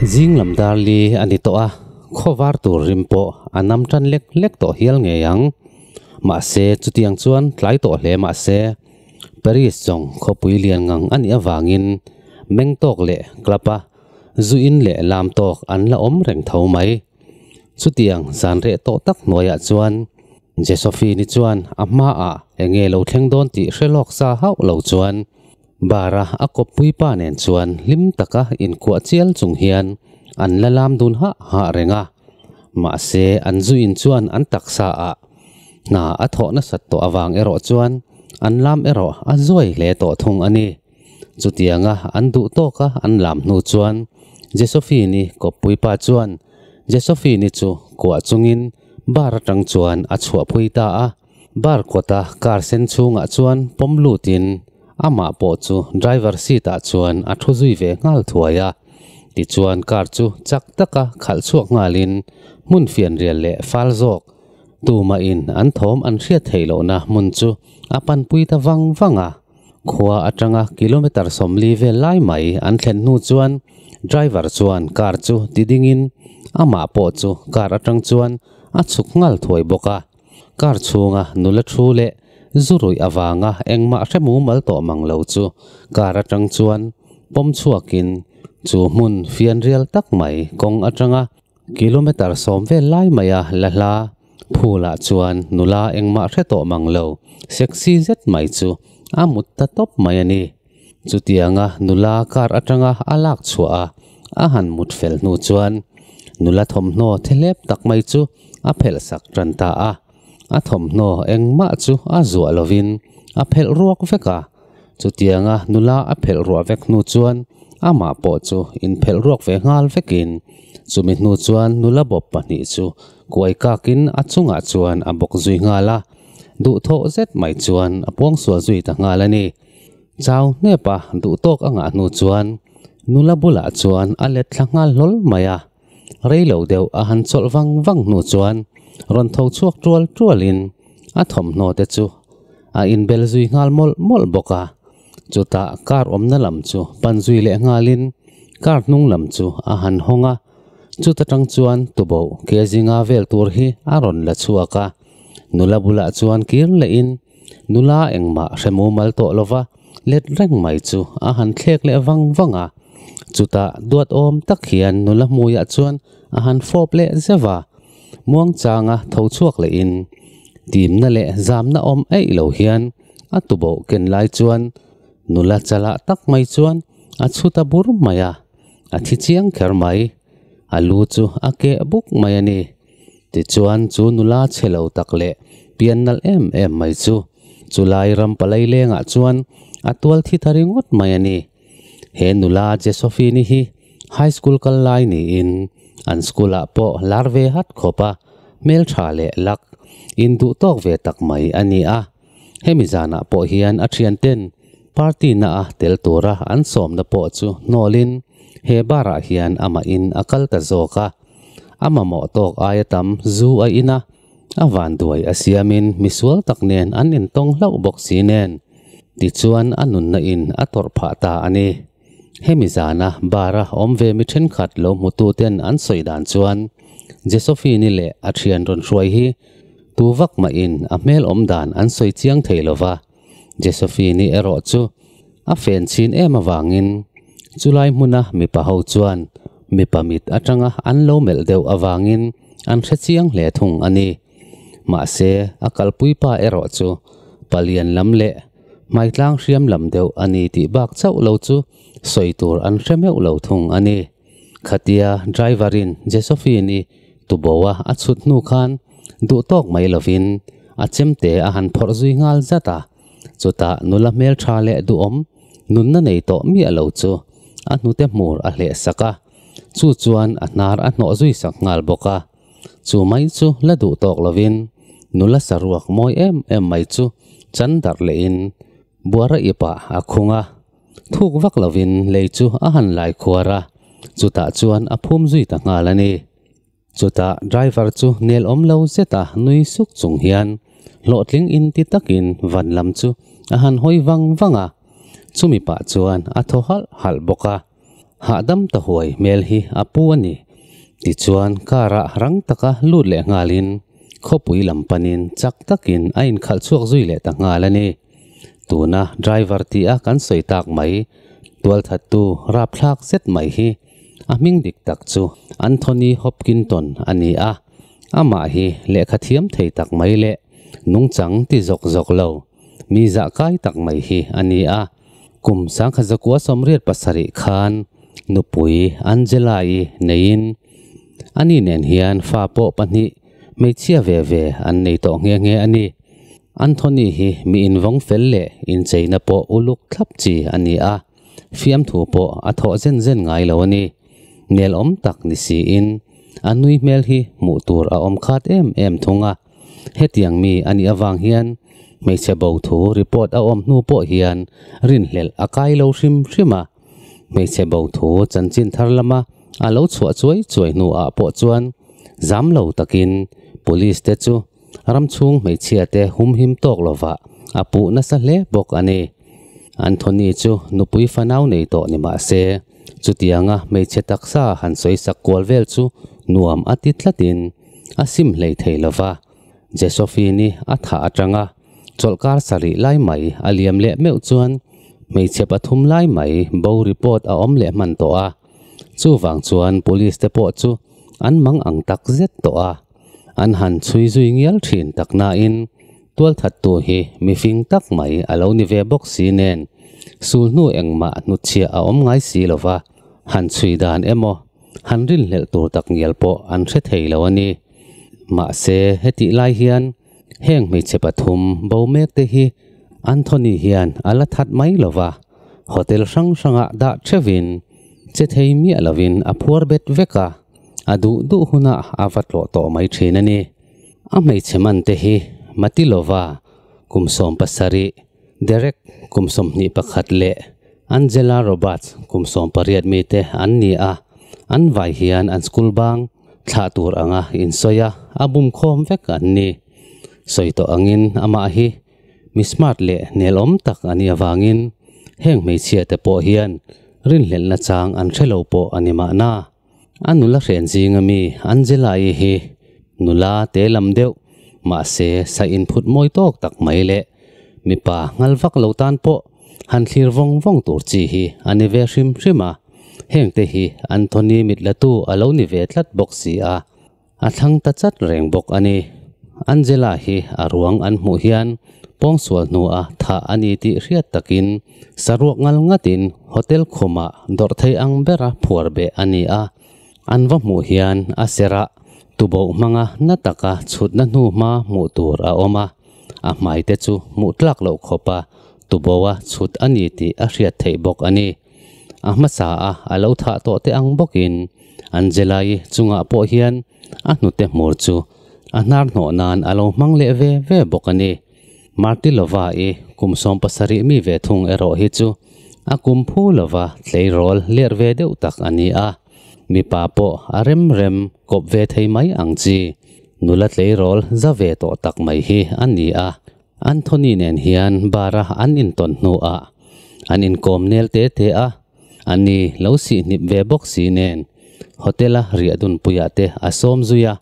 Zing lam dar li a ni tawh a, khaw var tur rim pawh a nam tan lek lek tawh hial ngei ang. Mahse, chutiang chuan tlai tawh hle mah se, Paris zawng khawpui lian ngang a nih avangin meng tawk leh club a zu in leh lam tawk an la awm reng tho mai. Chutiang zan reh tawh tak hnuaiah chuan Josephine-i chuan a hmaah enge lo thleng dawn tih hre lawk sa hauh lo chuan bar-a a kawp pui pa nen chuan hlim taka inkuah chial chung hian an la lam dun hah hah reng a. Mahse an zu in chuan an taksa ah hna a thawh nasat tawh avang erawh chuan an lam erawh a zuai hle tawh thung a ni. Chutianga an duh tawk a an lam hnu chuan Jesophine-i kawppui pa chuan Jesophine-i chu kuah chungin bar atang chuan a chhuah phui ta a. Bar kawta car sen chhungah chuan pawm lutin amah pawh chu driver seat ah chuan a thu zui ve nghal thuai a. Tichuan car chu chak taka khalh chhuak nghalin hmun fianrial leh fal zawk tumahin an thawm an hriat theih lohna hmun chu a panpui ta vang vang a. Khua atanga kilometre sawmli vel lai mai an thlen hnu chuan driver chuan car chu ti dingin amah pawh chu car atang chuan a chhuk nghal thuai bawk a. Car chhunga nula thu leh zu ruih avanga engmah hre mumal tawh mang lo chu car atang chuan pawm chhuakin chu hmun fian rial tak mai kawng atanga Kilometre sawm vel lai mai a la hla phûlah chuan nula engmah hre tawh mang lo, sexy zet mai chu a mut ta tawp mai a ni. Chutianga nula car atanga a lak chhuah a, a han mut fel hnu chuan nula thawmhnaw the hlep tak mai chu a phelhsak ṭan ta a. A thawmhnaw engmah chu a zuah lovin a phelh ruak vek a. Chutianga nula a phelh ruah vek hnu chuan amah pawh chu inphelh ruak ve nghal vekin chumi hnu chuan nula bawp pahnih chu kuai kakin a chungah chuan a bawk zui nghal a. Duhthawh zet mai chuan a puang sual zui ta nghal a ni. Chau hnepa duhtawk a ngah hnu chuan nula bulah chuan a let thla nghal hlawl mai a. rei lo deuh a han chawlh vang vang hnu chuan rawn tho chhuak ṭual ṭual in a thawmhnaw te chu a in bel zui nghal mawlh mawlh bawk a, chutah car awmna lam chu pan zui leh nghal in car hnung lam chu a han hawng a, chuta ṭang chuan tubo ke zinga vel tur hi a rawn la chhuak a, nula bulah chuan kir leh in nula engmah hremu mal tawh lo va, let reng mai chu a han thlek leh vang vang a, chutah duat awm tak hian nula hmuiah chuan a han fawp leh zeuh a, Muangchanga tho chhuak leh in timna leh zamna awm eih lo hian a tuboh ken lai chuan nula chalah tak mai chuan a chhut a bur mai a, a thi chiang kher mai, a lu chu a keh buk mai a ni. Tichuan, chu nula che lo tak leh pian nalh em em mai chu, chu lai ram palai lengah chuan a tual thi ta ringawt mai a ni. He nula Jesophine hi high school kal lai niin an school ah pawh lar ve hat khawp a, hmeltha leh luck in duh tawk ve tak mai a ni a. Hemi zanah pawh hian a thianten party naha tel tura an sawmna pawh chu hnawlhin he barah hian amahin a kal ta zawk a. A mamawh tawk aia tam zu a in a, a vanduai a siamin misual tak nen an intawng hlauh bawk si nen tichuan a nunna in a tawrh phah ta a ni. Hemi zana bar a awm ve mi thenkhat lo hmutu ten an sawi dan chuan Jesofini leh a thian rawn hruai hi tu vak mahin a hmelawm dan an sawi chiang thei lo va. Jesofini erawh chu a fen chhin em avangin chulai hmuna mipa ho chuan mipa mit atanga an lo melh deuh avangin an hre chiang hle thung a ni. Mahse, a kalpui pa erawh chu palian lam leh hmaitlang hriam lam deuh a ni tih bak chauh lo chu sawi tur an hre meuh lo thung a ni. Khatia driver-in Jesophine-i tuboa a chhut hnu khan duhtawk mai lovin a chemte a han phawrh zui nghal zat a. Chutah nula hmeltha leh duhawm nunna nei tawh miah lo chu a hnute hmur a hleh sak a, chu chuan a hnar a hnawh zui sak nghal bawk a. Chu mai chu la duh tawk lovin nula saruak mawi em em mai chu chan darh lehin Buara ip ah a khung a. Thuk vak lovin lei chu a han lai khuar a, chutah chuan a phum zui ta nghal a ni. Chutah driver chu nelawm lo zeta nui suk chung hian hlawhtling in ti takin van lam chu a han hawi vang vang a, chumi pah chuan a thaw halh halh bawk a. Hahdam ta huai hmel hi a pu a ni. Tichuan car ah rang taka lut leh nghal in khawpui lam pan in chak tak in a in khalh chhuak zui leh ta nghal a ni. Tuna driver tih a kan sawi tak mai, tualthat tu rapthlak zet mai hi a hming dik tak chu Anthony Hopkinton a ni a. Amah hi lehkha thiam thei tak mai leh nungchang ti zawk zawk lo, mi zah kai tak mai hi a ni a. Kum sangkhat zakua sawmriat pasarih khan nupui Angela-i neiin, Ani nen hian fa pawh pahnih hmeichhia ve ve an nei tawh nghe nghe a ni. Anthony hi mi invawng fel leh incheina pawh uluk thlap chi a ni a, fiamthu pawh a thawh zen zen ngai lo a ni. Nelawm tak ni siin a nui hmel hi hmuh tur a awm khat em em thung a. Hetiang mi a nih avang hian hmeichhe bo thu report a awm hnu pawh hian rinhlelh a kai lo hrim hrim a. Hmeichhe bo thu chanchin thar lama a lo chhuah chuai chuai hnuah pawh chuan zam lo takin Police te chu ramchhung hmeichhia te humhim tawk lovah a puh nasa hle bawk a ni. Anthony chu nupui fanau nei tawh ni mah se, chutianga hmeichhe taksa han sawisak kual vel chu nuam a ti tlatin, a sim hlei thei lo va, Jesophine-i a thah atang a, chawlh kar sarih lai mai a liam leh meuh chuan hmeichhe pathum lai mai bo report a awm leh hman tawh a, chuvang chuan police te pawh chu an mang ang tak zet tawh a, an han chhui zui ngial thin tak nain tualthat tu hi mifing tak mai a lo ni ve bawk si nen sul hnu engmah hnutchhiah a awm ngai si lo va. Han chhui dan emaw, han rilhlelh tur tak ngial pawh an hre thei lo a ni. Mahse, hetih lai hian heng hmeichhe pathum bo mek te hi Anthony hian a la that mai lo va, hotel hrang hrangah dah theuhin che thei miah lovin a phuar bet vek a, a duh duh hunah a va tlawh tawh mai thin a ni. A hmeichhe man te hi Matilova, kum sawm pasarih, Derek, kum sawmhnih pakhat leh Angela Roberts, kum sawm pariat mi te an ni a, an vai hian an school bang thlah tur anga insawi a, a bum khawm vek an ni. Sawi tawh angin amah hi mi smart leh nelawm tak a nih avangin heng hmeichhia te pawh hian rinhlelhna chang an hre lo pawh a ni mahna. A nula hrian zinga mi Angela-i hi nula te lam deuh, mahse sa inphut mawi tawk tak mai leh mipa nghal vak lo tan pawh han thlir vawng vawng tur chi hi a ni ve hrim hrim a. Hengte hi Anthony mitlatu a lo ni ve tlat bawk si a. A thlang ta chat reng bawk a ni. Angela hi a ruang an hmuh hian pawngsual hnua thah a ni tih hriat takin saruak ngal ngatin hotel khumah dawrh thei ang bera phuar beh a ni a. An va hmuh hian a serah tuboh hmanga hna taka chhutna hnu hma hmuh tur a awm a, a hmaite chu hmuh tlak loh khawpa tuboha chhut a ni tih a hriat theih bawk a ni. A hmasa a a lo thah tawh teh ang bawkin an Jelai chungah pawh hian a hnute hmur chu a hnar hnawh nan a lo hmang leh ve ve bawk a ni. Martilova-i kum sawm pasarih mi ve thung erawh hi chu a kum phu lova tleirawl ler ve deuh tak a ni a. Mipa pawh a rem rem kawp ve thei mai ang chi, nula tleirawl za ve tawh tak mai hi a ni a. Anthony nen hian bar a an intawn hnuah an inkawm nel te te a, a ni lo sihnip ve bawk si nen hotel a riahdunpuiah te a sawm zui a,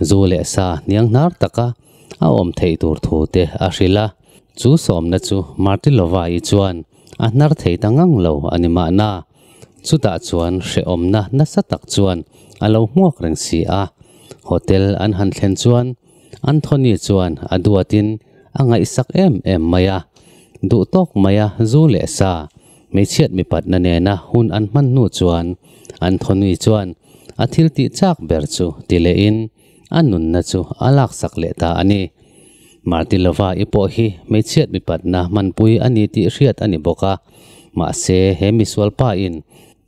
zu leh sa niang hnar taka a awm theih tur thu te a hrilh a. Chu sawmna chu Martylovai-i chuan a hnar thei ta ngang lo a ni mahna, chutah chuan hrehawmna nasa tak chuan a lo hmuak reng si a. Hotel an han thlen chuan Anthony chuan a duatin a ngaihsak em em mai a, duh tawk mai a zu leh sa. Hmeichhiat mipatna nena hun an hman hnu chuan Anthony chuan a thil tih chak ber chu ti leh in a nunna chu a laksak leh ta a ni. Martilova i pawh hi hmeichhiat mipatna hmanpui a ni tih hriat a ni bawk a, mahse he misual pa in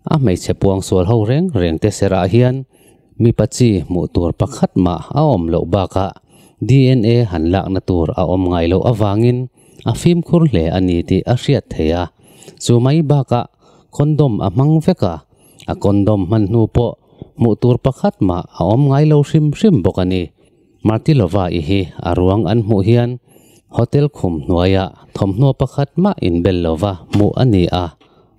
A hmeichhe puang sual ho reng reng te serah hian mipa chi hmuh tur pakhat mah a awm loh bakah DNA han lakna tur a awm ngai loh avangin a fimkhur hle a ni tih a hriat theih a. Chu mai bakah condom a hmang vek a, a condom hman hnu pawh hmuh tur pakhat mah a awm ngai lo hrim hrim bawk a ni. Martylova i hi a ruang an hmuh hian hotel khum hnuaiah thawmhnaw pakhat mah inbel lova hmuh a ni a,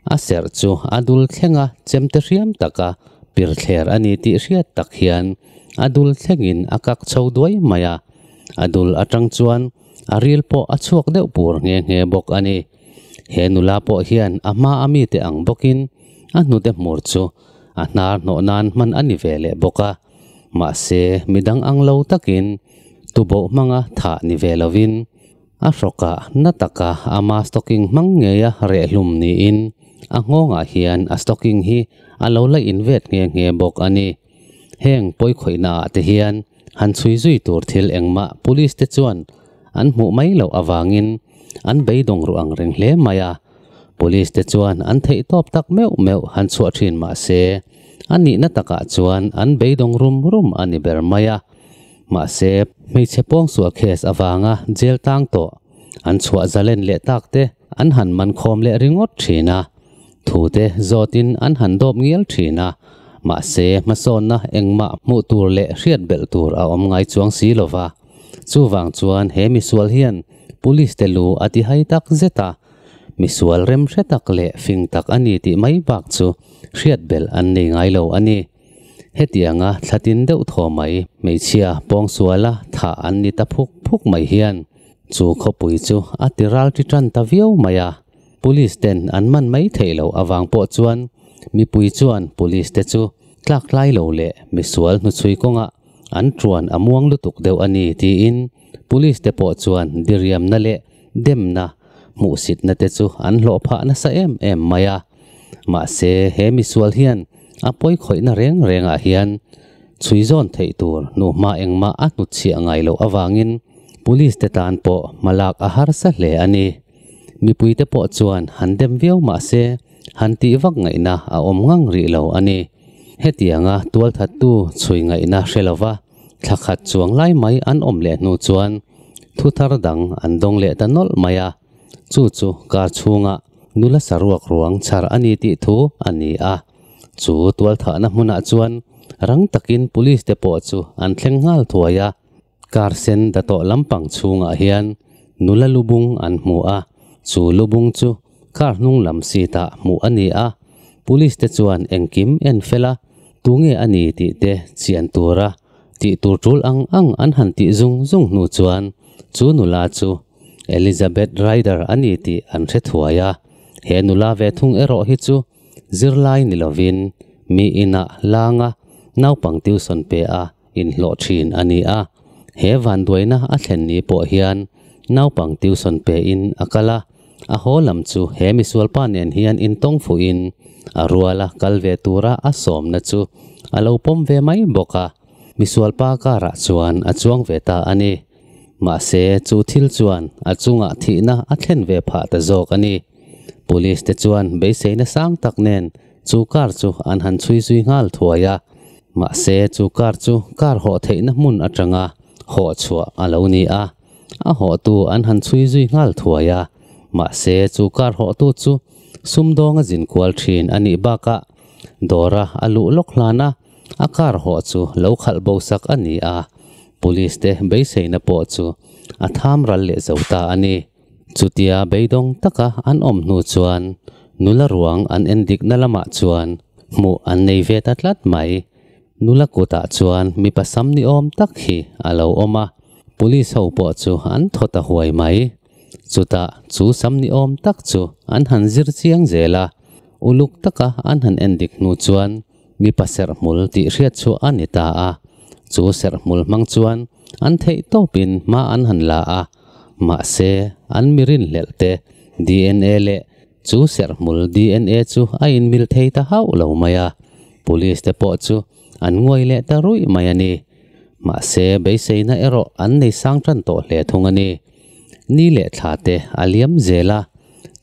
A serh chu a dul thleng a, chemte hriam taka pirthler a ni tih hriat tak hian a dul thlengin a kak chho duai mai a. A dul atang chuan a ril pawh a chhuak deuh pur nghe nghe bawk a ni. He nula pawh hian a hma a mite ang bawkin a hnute hmur chu a hnar hnawh nan hman a ni ve leh bawk a. Mahse, midang ang lo takin tuboh hmanga thah ni ve lovin A hrawka na taka ama stocking hmang ngeia rehhlum niin a nghawngah hian a stocking hi a lo la invet nghe nghe bawk a ni. Heng pawi khawihnaah te hian han chhui zui tur thil engmah Police te chuan an hmuh mai loh avangin an beidawng ruh ang reng hle mai a. Police te chuan an theihtawp tak meuh meuh han chhuah thin mahse, a nihna takah chuan an beidawng rum rum a ni ber mai a. Mahse, hmeichhe pawngsual case avanga jail tang tawh, an chhuah zalen leh tak te an han man khawm leh ringawt thin a, thute zawtin an han dawp ngial thin a, mahse hmasawnna engmah hmuh tur leh hriat belh tur a awm ngai chuang si lo va, chuvang chuan he misual hian Police te lu a ti hai tak zet a, misual remhre tak leh fing tak a ni tih mai bak chu hriat belh an nei ngai lo a ni. Hetianga thla tin deuh thaw mai hmeichhia Pawngsuala tha an ni ta phuk phuk mai hian chu khawpui chu a ti ral ti tan ta viau mai a. Police ten an man mai theih loh avang pawh chuan mipui chuan Police te chu tlaktlai lo leh misual hnuchhui kawnga an tuan a muang lutuk deuh a ni tiin Police te pawh chuan diriamna leh demna hmuhsitna te chu an hlawh phah nasa em em mai a. Mahse, he misual hian a pawi khawihna reng rengah hian chhui zawn theih tur nuhma engmah a hnutchhiah ngai loh avangin Police te tan pawh hma lak a harsa hle a ni. Mipui te pawh chuan han dem viau mahse, han tih vak ngaihna a awm ngang rih lo a ni. Hetianga tualthattu chhui ngaihna hre lova thlakhat chuang lai mai an awm leh hnu chuan thu thar dang an dawng leh ta nawlh mai a. Chu chu kar chhunga nula saruak ruang chhar a ni tih thu a ni a. Chu tualthahna hmunah chuan rang takin police te pawh chu an thleng nghal thuai a. Kar sen Datoh lampang chhungah hian nula lubung an hmu a, chu lubung chu kar hnunglam seat ah hmuh a ni a. Police te chuan engkim en fel a, tunge a ni tih te chian tura tih tur tul ang ang an han tih zung zung hnu chuan chu nula chu Elizabeth Ryder a ni tih an hrethuai a. He nula ve thung erawh hi chu zirlai ni lovin mi inah langa naupang tuisawn pe a inhlawh thin a ni a. He vanduaina a thlen ni pawh hian naupang tuisawn pein a kal a. A haw lam chu he misualpa nen hian in tawng fuhin a rual a, kal ve tura a sawmna chu a lo pawm ve mai bawk a. Misualpa karah chuan a chuang ve ta a ni. Mahse, chu thil chuan a chungah thihna a thlen ve phah ta zawk a ni. Police te chuan beiseina sang tak nen chu kar chu an han chhui zui nghal thuai a. Mahse, chu kar chu kar hawh theihna hmun atanga hawh chhuah a lo ni a. a hawhtu an han chhui zui nghal thuai a, mahse chu car hawhtu chu sumdawnga zin kual thin a nih bakah dawra a luh lawk hlan a, a car hawh chu lo khalh bo sak a ni a, police te beiseina pawh chu a tham ral leh zo ta a ni. Chutia beidawng taka an awm hnu chuan nula ruang an en dikna lamah chuan hmuh an nei ve ta tlat mai. Nula kutah chuan mipa sam ni awm tak hi a lo awm a, police ho pawh chu an thawt a huai mai. Chutah chu sam ni awm tak chu an han zir chiang zel a, uluk taka an han en dik hnu chuan mipa serh hmul tih hriat chu a ni ta a, chu serh hmul hmang chuan an theih tawpin hma an han la a, mahse an mirinhlelh te DNA leh Chu serh hmul DNA chu a inmil thei ta hauh lo mai a, Police te pawh chu an nguai leh ta ruih mai a ni. Mahse, beiseina erawh an nei sang tan tawh hle thung a ni. Ni leh thla te a liam zel a,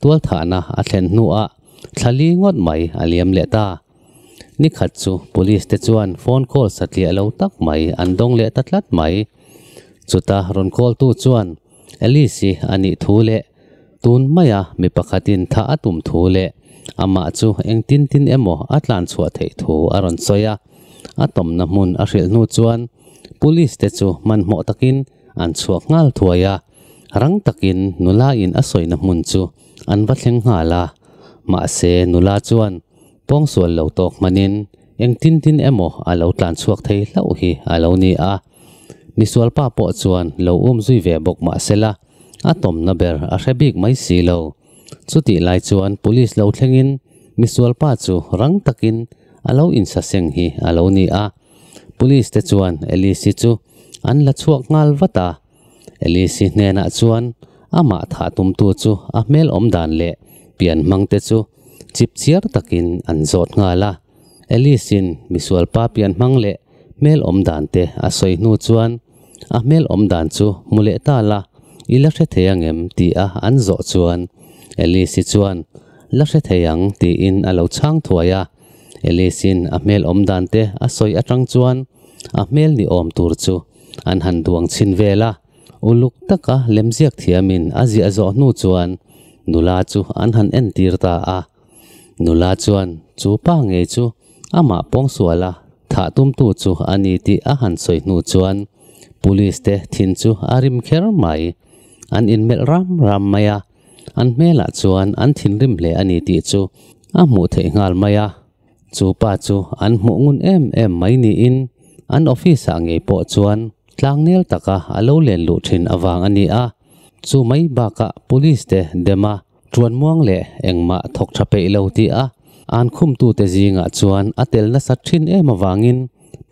tualthahna a thlen hnuah thla li ngawt mai a liam leh ta. Ni khat chu Police te chuan phone call satliah lo tak mai an dawng leh ta tlat mai. Chuta rawn call tu chuan, Alice-i a nih thu leh tun maia mi pakhatin thah a tum thu leh amah chu engtin tin emaw a tlan chhuah theih thu a rawn sawi a. A tawmna hmun a hrilh hnu chuan Police-te chu hmanhmawh takin an chhuak nghal thuai a, rang takin nulaiin a sawina hmun chu an va thleng nghal a. Mahse, nula chuan pawngsual lo tawk hmanin engtin tin emaw a lo tlan chhuak thei hlauh hi a lo ni a. Misualpa pawh chuan lo um zui ve bawk mah sela, a tawmna ber a hre bik mai si lo. Chutih lai chuan Police lo thlengin Misualpa chu rang takin a lo insaseng hi a lo ni a. Police te chuan Alice chu an la chhuak nghal vat a. Alice hnenah chuan amah thah tumtu chu a hmelawm dan leh pian hmangte chu chip chiar takin an zawt nghal a. Alice-in misual papian hmang leh hmel awm dan te a sawi hnu chuan a hmel awm dan chu hmu leh ta la, i la hre thei angem? tih a an zawh chuan Alice-i chuan La hre thei ang tiin a lo chhang thuai a. Alice-in a hmel awm dan te a sawi atang chuan a hmel ni awm tur chu an han duang chhin vel a. Uluk taka lemziak thiamin a ziah zawh hnu chuan nula chu an han entir ta a. Nula chuan, Chu pa ngei chu amah pawngsuala thah tumtu chu a ni tih a han sawi hnu chuan Police te thin chu a rim kher mai. An inmelh ram ram mai a, an hmelah chuan an thinrim hle a ni tih chu a hmuh theih nghal mai a. Chu pa chu an hmuh ngun em em mai niin an office-ah ngei pawh chuan tlangnel taka a lo len luh thin avang a ni a. Chu mai bakah Police te dem a. Tuan muang leh engmah thawk tha peih lo tia an khumtute zingah chuan a tel nasa thin em avangin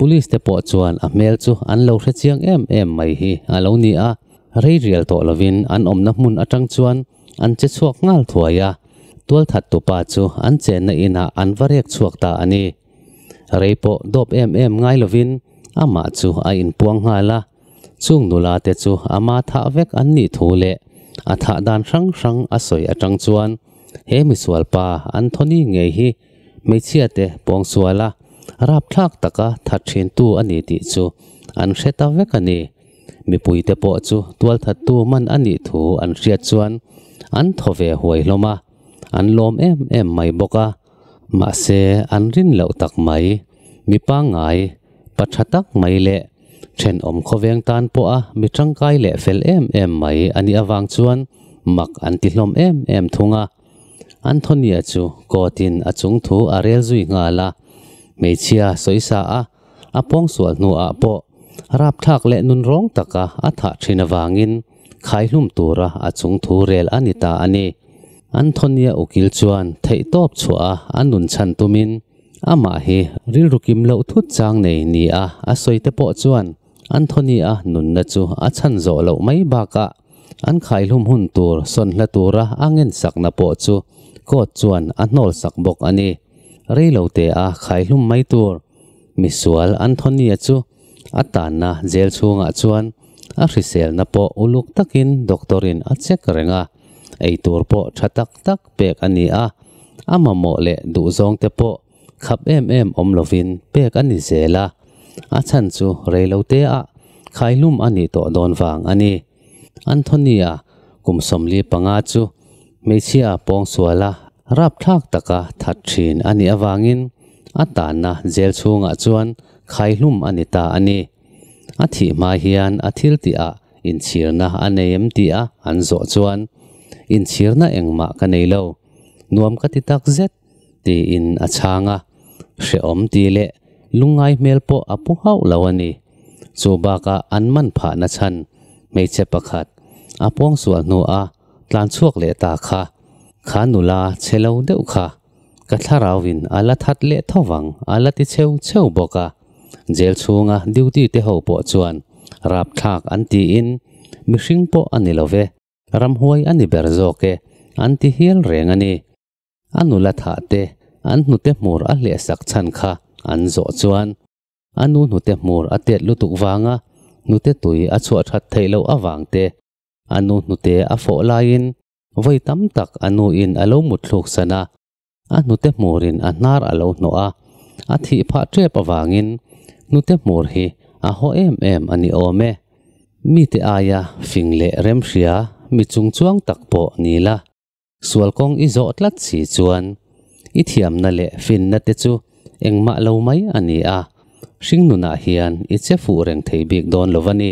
Police te pawh chuan a hmel chu an lo hre chiang em em mai hi a lo ni a, reirial tawh lovin an awmna hmun atang chuan an che chhuak nghal thuai a, tualthat tupa chu an chenna inah an va rek chhuak ta a ni. Rei pawh dawp em em ngai lovin amah chu a inpuang nghal a, chung nula te chu ama thah vek an nih thu leh a thah dan hrang hrang a sawi atang chuan he misual pa Anthony ngei hi hmeichhia te pawngsual a rapthlak taka that thintu a ni tih chu an hre ta vek a ni. Mipui te pawh chu tualthattu man a nih thu an hriat chuan an thaw ve huai hlawm a. an lawm em em mai bawk a, mahse an rin loh tak mai. Mi pangngai, pa tha tak mai leh thenawm khawveng tan pawha mi tangkai leh fel em em mai a nih avang chuan mak an ti hlawm em em thung a. Anthony-a chu court-in a chungthu a rel zui nghal a, hmeichhia sawi sa ah A pawngsual hnuah pawh rapthlak leh nun rawng taka a thah thin avangin khaihlum tura a chung thu rel a ni ta a ni. Anthony-a ukil chuan theihtawp chhuaha a nun chhan tumin amah hi rilru kim loh thut chang nei nia a sawite pawh chuan Anthony-a nunna chu a chhan zawh loh mai bakah an khaihlum hun tur sawn hla tura a ngensakna pawh chu court chuan a hnawlsak bawk a ni. Reilo teh-a khaihlum mai tur misual Anthony-a chu a tanna jail chhungah chuan a hriselna pawh uluk takin doctor-in a check reng a, eitur pawh tha tak tak pek a ni a, a mamawh leh duhzawngte pawh Khap em em awm lovin pek a ni zel a, a chhan chu reilo teah khaihlum a nih tawh dawn vang a ni. Anthony-a kum sawmli panga chu hmeichhia pawng suala rapthlak taka that thin a nih avangin a tanna jail chhungah chuan khaihlum a ni ta a ni. A thih hma hian a thil tihah inchhirna a nei em tia an zawh chuan, Inchhirna engmah ka nei lo. Nuam ka ti takzet. Tiin a chhang a, Hrehawm ti leh lungngai hmel pawh a pu hauh lo a ni. Chu bakah an man phahna chhan hmeichhe pakhat a puangsual hnuah tlanchhuak leh ta kha kha nula che lo deuh kha ka thlarauin a la that leh tho vang a la ti cheu cheu bawk a. Jail chhunga duty te ho pawh chuan rapthlak an tiin mihring pawh a ni lo ve, ramhuai a ni ber zawk e an ti hial reng a ni. A nula thahte an hnute hmur a hlehsak chhan kha an zawh chuan a nu hnute hmur a tet lutuk vanga hnute tui a chhuah that theih loh avangte a nu hnute a fawh laiin vawi tam tak a nuin a lo mutthluk san a, a hnute hmurin a hnar a lo hnawh a. A thih phah tep avangin hnute hmur hi a haw em em a ni awm e. Mite aia fing leh remhria mi chungchuang tak pawh ni la. Sual kawng i zawh tlat si chuan i thiamna leh finna te chu engmah lo mai a ni a, hringnunah hian i che fuh reng thei bik dawn lo va ni.